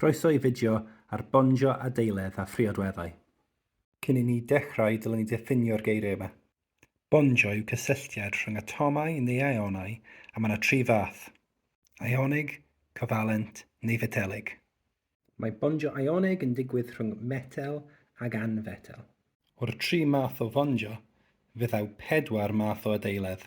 Croeso i fideo ar bonjo adeiledd a phriodweddau. Cyn i ni dechrau dylen ni ddiffinio'r geiriau yma. Bonjo yw cysylltiad rhwng atomau neu ionau a mae yna tri fath, ionig, covalent neu fetelig. Mae bonjo ionig yn digwydd rhwng metel ag anfetel. O'r tri math o fonjo, fe ddaw pedwar math o adeiledd.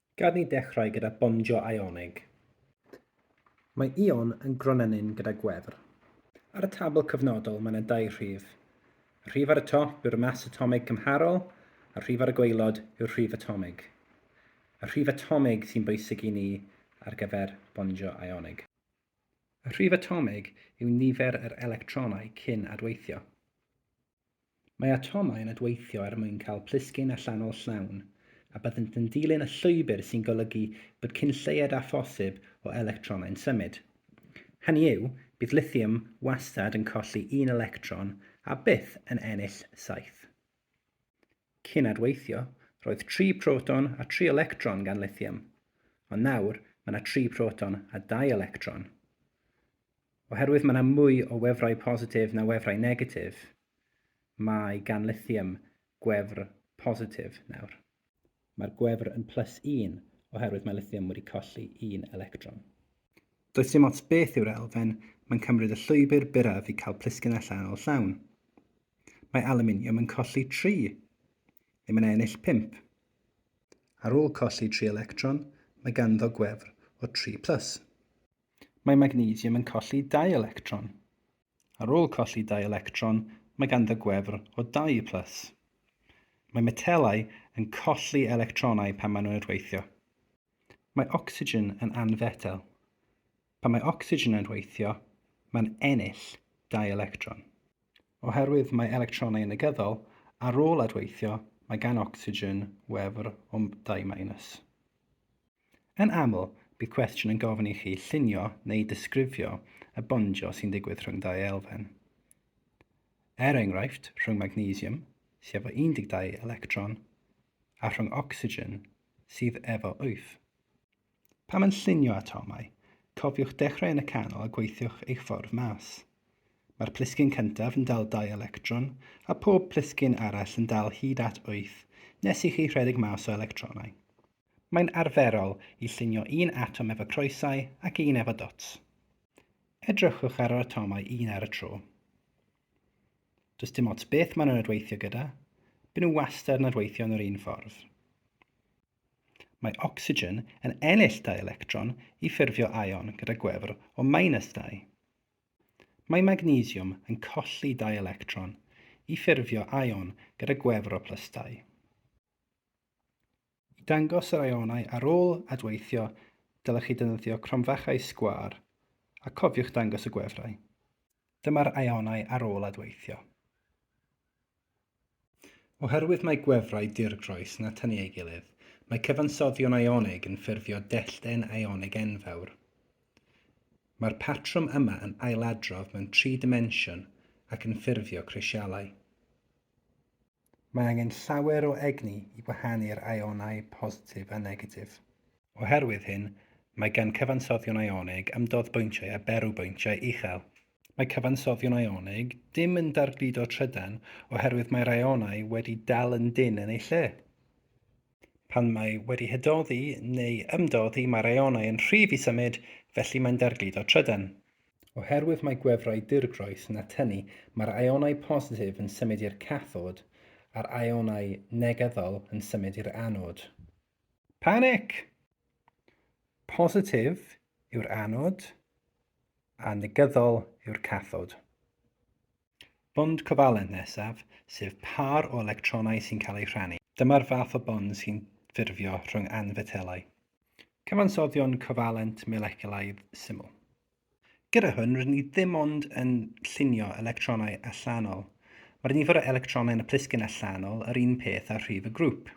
Gad ni ddechrau gyda bondio Ionig. Mae Ion yn gronennyn gyda gwefr. Ar y tabl cyfnodol mae yna dau rhif. Y rhif ar y top yw'r mas atomig cymharol a'r rhif ar y gwaelod yw'r rhif atomig. Y rhif atomig sy'n bwysig i ni ar gyfer bondio Ionig. Y rhif atomig yw nifer yr electronau cyn adweithio. Mae atomau yn adweithio er mwyn cael plisgyn allanol llawn, a byddent yn dilyn y llwybr sy'n golygu bod cyn lleied â phosib o electronau'n symud. Hynny yw, bydd lithium wastad yn colli un electron a byth yn ennill saith. Cyn adweithio, roedd tri proton a tri electron gan lithium, ond nawr mae yna tri proton a dau electron. Oherwydd mae yna mwy o wefrau positif na wefrau negatif, mae gan Lithium gwefr positif nawr. Mae'r gwefr yn plus un oherwydd mae Lithium wedi colli un electron. Does dim ots beth yw'r elfen, mae'n cymryd y llwybr byrraf i cael plisgyn allanol llawn. Mae aluminium yn colli tri. Le mae'n ennill pump. Ar ôl colli tri electron, mae ganddo gwefr o tri plus. mae magnesium yn colli dau electron. Ar ôl colli dau electron, mae ganddo gwefr o dau plus. Mae metelau yn colli electronau pan maen nhw'n rhweithio. Mae ocsigen yn anfetel. Pan mae ocsigen yn rhweithio, mae'n ennill dau electron. Oherwydd mae electronau yn negyddol, ar ôl adweithio, mae gan ocsigen wefr o dau minus. Yn aml, bydd cwestiwn yn gofyn i chi llunio neu ddisgrifio y bondio sy'n digwydd rhwng dau elfen. Er enghraifft, rhwng magnesium, sydd efo 12 electron, a rhwng ocsigen, sydd efo 8. Pam yn llunio atomau? Cofiwch dechrau yn y canol a gweithiwch eich ffordd mas. Mae'r plisgyn cyntaf yn dal dau electron, a phob plisgyn arall yn dal hyd at 8 nes i chi rhedeg mas o electronau. Mae'n arferol i llunio un atom efo croesau ac un efo dots. Edrychwch ar yr atomau un ar y tro. Does dim ots beth maen nhw'n adweithio gyda, byn nhw wastad yn adweithio yn yr un ffordd. Mae ocsigen yn ennill dau electron i ffurfio ion gyda gwefr o minus 2. Mae magnesiwm yn colli dau electron i ffurfio ion gyda gwefr o plus 2. I dangos yr ionau ar ôl adweithio, dylech chi defnyddio cromfachau sgwâr, a cofiwch dangos y gwefrau. Dyma'r ionau ar ôl adweithio. Oherwydd mae gwefrau dirgroes yn atynnu ei gilydd, mae cyfansoddion ionig yn ffurfio dellten ionig enfawr. Mae'r patrwm yma yn ailadrodd mewn tri dimensiwn ac yn ffurfio crisialau. Mae angen llawer o egni i wahanu'r aionau positif a negatif. Oherwydd hyn, mae gan cyfansoddion aionig ymdodd bwyntiau a berw bwyntiau uchel. Mae cyfansoddion aionig dim yn dargludo trydan oherwydd mae'r aionau wedi dal yn dynn yn eu lle. Pan mae wedi hydoddi neu ymdoddi mae'r aeonau yn rhydd i symud, felly mae'n dargludo trydan. Oherwydd mae gwefrau dirgroes yn atynu, mae'r aeonau positif yn symud i'r cathod a'r aeonau negyddol yn symud i'r anod. Panic! Positif yw'r anod a negyddol yw'r cathod. Bond covalent nesaf, sef pâr o electronau sy'n cael eu rhannu. Dyma'r fath o bond sy'n ffurfio rhwng anfetelau. Cyfansoddion covalent moleculaidd syml. Gyda hwn, rydyn ni ddim ond yn llunio electronau allanol. Mae'r nifer o electronau yn y plisgyn allanol yr un peth â rhif y grŵp.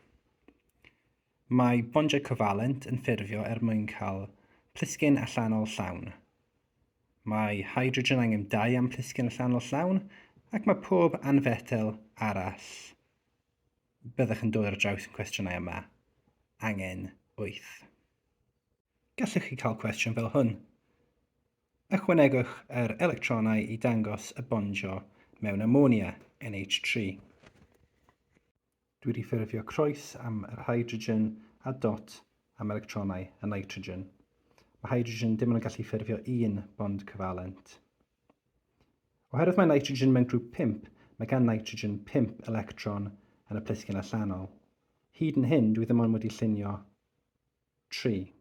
Mae bondiau covalent yn ffurfio er mwyn cael plisgyn allanol llawn. Mae hydrogen angen dau am plisgyn allanol llawn ac mae pob anfetel arall byddwch yn dod ar draws yn cwestiynau yma angen wyth. Gallwch chi cael cwestiwn fel hwn. Ychwanegwch yr electronau i dangos y bondio mewn amonia, NH3. Dwi wedi ffurfio croes am yr hydrogen a dot am electronau y nitrogen. Mae hydrogen dim ond yn gallu ffurfio un bond cyfalent. Oherwydd mae nitrogen mewn grŵp 5, mae gan nitrogen 5 electron yn y plisgyn allanol. Hyd yn hyn, dwi ddim ond wedi llunio 3.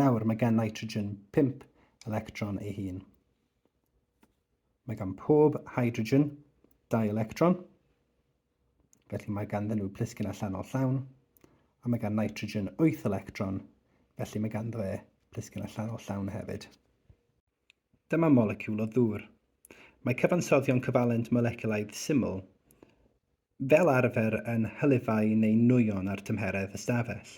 Nawr mae gan nitrogen 5 electron ei hun. Mae gan pob hydrogen 2 electron, felly mae ganddyn nhw plisgyn allanol llawn, a mae gan nitrogen 8 electron, felly mae ganddo fe plisgyn allanol llawn hefyd. Dyma moleciwl o ddŵr. Mae cyfansoddion cyfalent moleculaidd syml fel arfer yn hylifau neu nwyon ar tymheredd ystafell.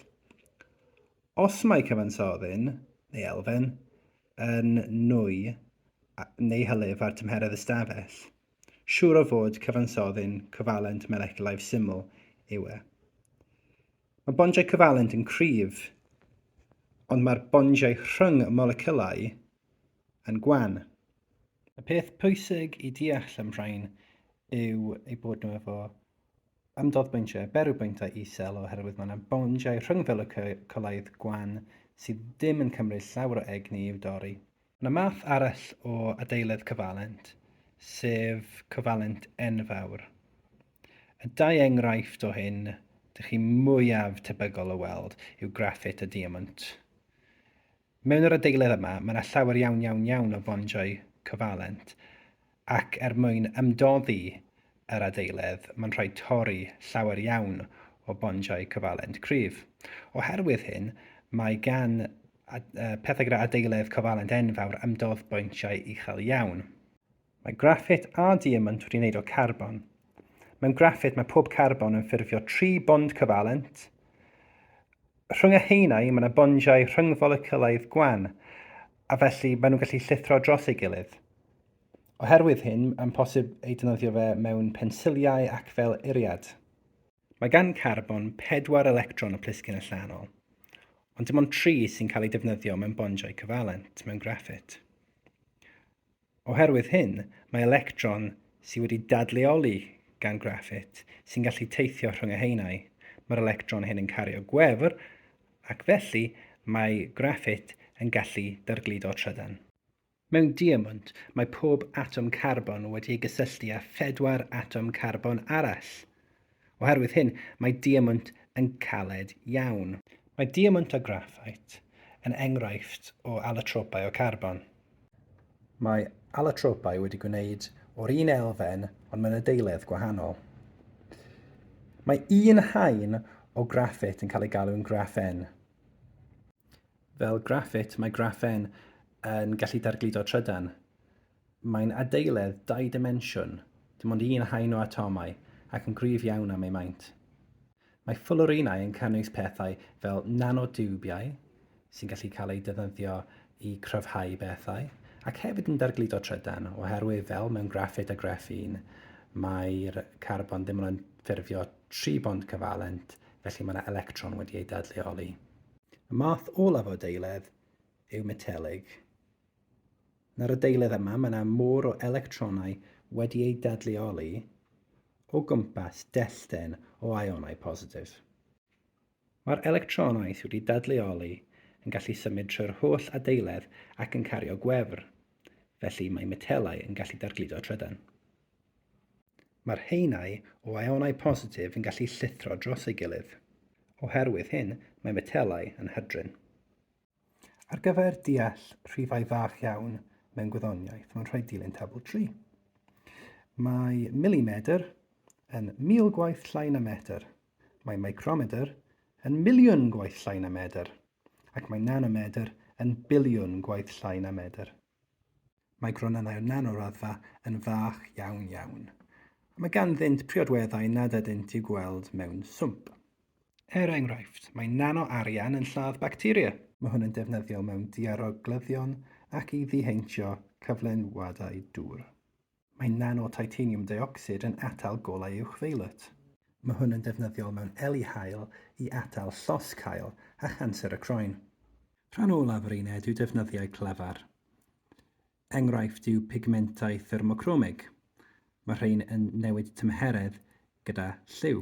Os mae cyfansoddyn, neu elfen, yn nwy neu hylif ar tymheredd ystafell, siŵr o fod cyfansoddyn cyfalent moleculaidd syml yw e. Mae bondiau cyfalent yn cryf, ond mae'r bondiau rhwng y moleciwlau yn gwan. Y peth pwysig i deall am rhain yw eu bod nhw efo ymdoddbwyntiau, berwybwyntau isel oherwydd mae yna bondiau rhwng felocycolaidd gwan sydd ddim yn cymryd llawer o egni i'w dorri. Mae 'na math arall o adeiledd cyfalent, sef cyfalent enfawr. Y dau enghraifft o hyn dych chi mwyaf tebygol o weld yw graffit a diamwnt. Mewn yr adeiledd yma, mae yna llawer iawn iawn iawn o fondiau cyfalent, ac er mwyn ymdoddi yr adeiledd mae'n rhaid torri llawer iawn o bondiau cofalent cryf. Oherwydd hyn, mae gan pethau gyda adeiledd cofalent enfawr ymdodd bointiau uchel iawn. Mae graffit a diamant wedi wneud o carbon. Mewn graffit mae pob carbon yn ffurfio tri bond cofalent. Rhwng y haenau mae yna bondiau rhyngfolecyulaidd gwan, a felly maen nhw'n gallu llithro dros ei gilydd. Oherwydd hyn, mae'n posib ei defnyddio fe mewn pensiliau ac fel eiriad. Mae gan carbon pedwar electron y plisgyn allanol, ond dim ond tri sy'n cael eu defnyddio mewn bondiau cyfalent mewn graffit. Oherwydd hyn, mae electron sydd wedi dadleoli gan graffit sy'n gallu teithio rhwng y haenau. Mae'r electron hyn yn cario gwefr ac felly mae graffit yn gallu dargludo trydan. Mewn diamwnt, mae pob atom carbon wedi ei gysylltu â phedwar atom carbon arall. Oherwydd hyn, mae diamwnt yn caled iawn. Mae diamwnt a graffait yn enghraifft o alotropau o carbon. Mae alotropau wedi gwneud o'r un elfen ond mewn adeiledd gwahanol. Mae un haen o graffit yn cael ei galw'n graffen. Fel graffit, mae graffen yn gallu dargludo trydan. Mae'n adeiledd dau dimensiwn, dim ond un haen o atomau, ac yn gryf iawn am ei maint. Mae ffwlwrinau yn cynnwys pethau fel nanotiwbiau, sy'n gallu cael eu defnyddio i gryfhau pethau, ac hefyd yn dargludo trydan, oherwydd fel mewn graffit a greffin, mae'r carbon ddim ond yn ffurfio tri bont cyfalent, felly mae yna electron wedi ei dadleoli. Y math olaf o adeiledd yw metelig. Yn yr adeiledd yma mae yna môr o electronau wedi eu dadleoli o gwmpas dellten o ionau positif. Mae'r electronau sydd wedi dadleoli yn gallu symud trwy'r holl adeiledd ac yn cario gwefr, felly mae metelau yn gallu dargludo trydan. Mae'r haenau o aionau positif yn gallu llithro dros ei gilydd. Oherwydd hyn, mae metelau yn hydrin. Ar gyfer deall rhifau fach iawn mewn gwyddoniaeth, mae'n rhaid dilyn tabl 3. Mae milimedr yn mil gwaith llai na metr, mae micromedr yn miliwn gwaith llai na medr, ac mae nanomedr yn biliwn gwaith llai na medr. Mae gronynnau o nan o raddfa yn fach iawn iawn. Mae ganddynt priodweddau nad ydynt i'w gweld mewn swmp. Er enghraifft, mae nan o arian yn lladd bacteria. Mae hwn yn defnyddiol mewn diaroglyddion ac i ddiheintio cyflenwadau dŵr. Mae nano-titanium deuocsid yn atal golau uwchfeilet. Mae hwn yn ddefnyddiol mewn eli haul i atal llosg haul a chanser y croen. Rhan olaf yr uned yw defnyddiau clefar. Enghraifft yw pigmentau thermocromig. Mae rhain yn newid tymheredd gyda lliw.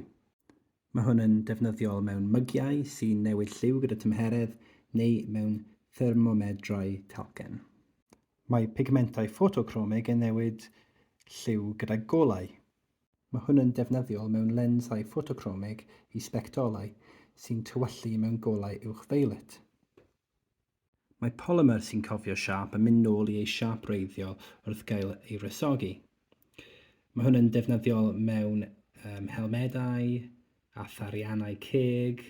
Mae hwn yn defnyddiol mewn mygiau sy'n newid lliw gyda tymheredd neu mewn thermomedrau talcen. Mae pigmentau ffotocromig yn newid lliw gyda golau. Mae hwn yn defnyddiol mewn lensau ffotocromig i sbectolau sy'n tywyllu mewn golau uwch-violet. Mae polymer sy'n cofio siâp yn mynd nôl i ei siâp wreiddiol wrth gael ei wresogi. Mae hwn yn defnyddiol mewn um, helmedau, a thariannau ceg,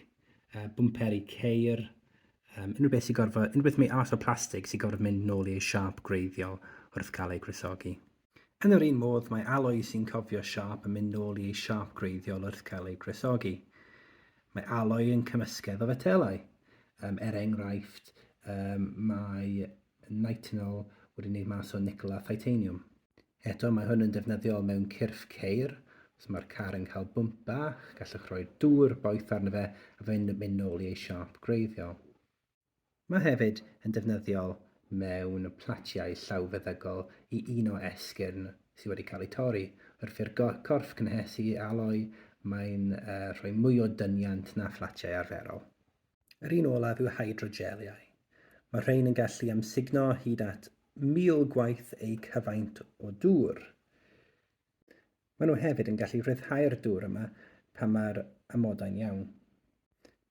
uh, bwmperi ceir, um, unrhyw beth sy'n gorfod, unrhyw beth mae arall o plastig sy'n gorfod mynd nôl i ei siâp gwreiddiol wrth gael ei gwresogi. Yn yr un modd, mae aloi sy'n cofio siâp yn mynd nôl i ei siâp gwreiddiol wrth cael ei gwresogi. Mae aloi yn cymysgedd o fetelau. Um, er enghraifft, um, mae nitinol wedi wneud mas o nicl a titanium. Eto, mae hwn yn defnyddiol mewn cyrff ceir. Os mae'r car yn cael bwmp bach, gallwch roi dŵr boeth arno fe a fe'n mynd nôl i ei siâp gwreiddiol. Mae hefyd yn defnyddiol mewn platiau llawfeddygol i uno esgyrn sydd wedi cael eu torri. Wrth i'r corff gynhesu ei aloi, mae'n rhoi mwy o dyniant na phlatiau arferol. Yr un olaf yw hydrogeliau. Mae'r rhain yn gallu amsugno hyd at 1,000 gwaith eu cyfaint o dŵr. Maen nhw hefyd yn gallu rhyddhau'r dŵr yma pan mae'r amodau'n iawn.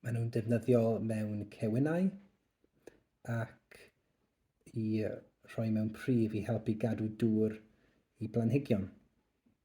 Maen nhw'n defnyddiol mewn cewinnau ac i rhoi mewn prif i helpu gadw dŵr i blanhigion.